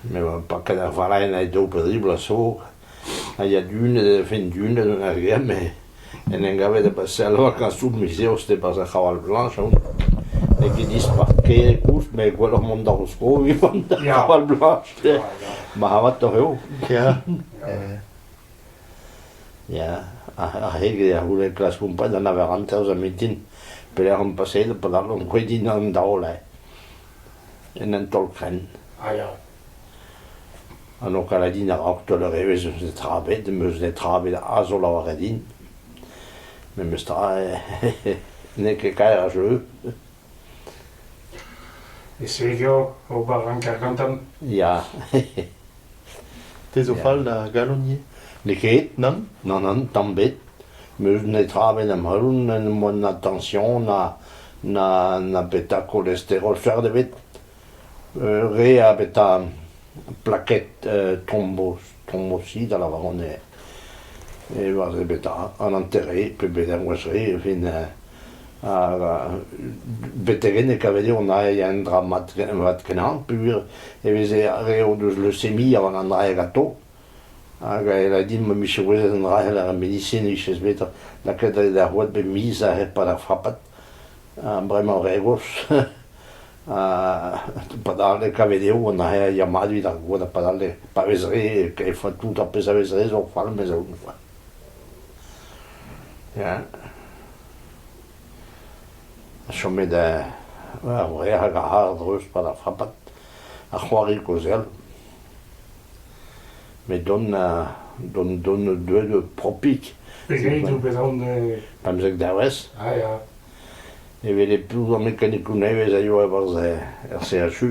Me oa paket ar valaenn a-daol posibl a so, ha ya dunet e fin dunet gant ar gem me en em gavet e Bassel vakañsoù miz Eost e-barzh ar Chaval Blanch aon, n'eo ket dispar ker koulz met gwelloc'h mont d'ar vro evit mont d'ar Chaval Blanch, marc'hatoc'h eo. Ya. Ya, a-hed ar c'houde klask kompren a lavaran taos ar mintin pelec'h omp paseet padal omp c'hwit din an daole en un tolfenn a ya ha n'ho kala din a-raok taol ur evezh eus netra bet meus netra bet a zo lavaret din memes tra n'eo ket kaer a jeu E Segia ober hanter gantan. Ya. Te zo fall da galon ivez N'eo ket, nann Nann, nann, tamm bet. Meus netra bet am heul, n'em boa na tension, na, na, na petra kolesterol fert ebet. Re abeta plaket tromboz, trombosi da lavarout eo, e oa beta an hanter-se pebezh engroez re e fin hag betek enne e kaved eo an ae un dra mat kenañ peogwir e veze re o deus leucemi a oa an ae ganto hag e lâre din ma vije gouezet an dra c'hell ar medisin e vijez bet lakaet da c'houad bep miz a-hed pad ar frapad ha bremañ re gozh. padale kavet eo an yamadou evit ar goad a padale pa vez re e faot tout ar pezh a vez re zo falm ez aont kwa. Ya. Ha chomet ar wreg hag ar c'hardreuz pa da frapat ar c'hoari kozel. Met don don don deuet propik. Pegeit o bet on... Pemzek dervez. Ah, ya. Evit e programm mekanikoù nevez a yoa er CHU.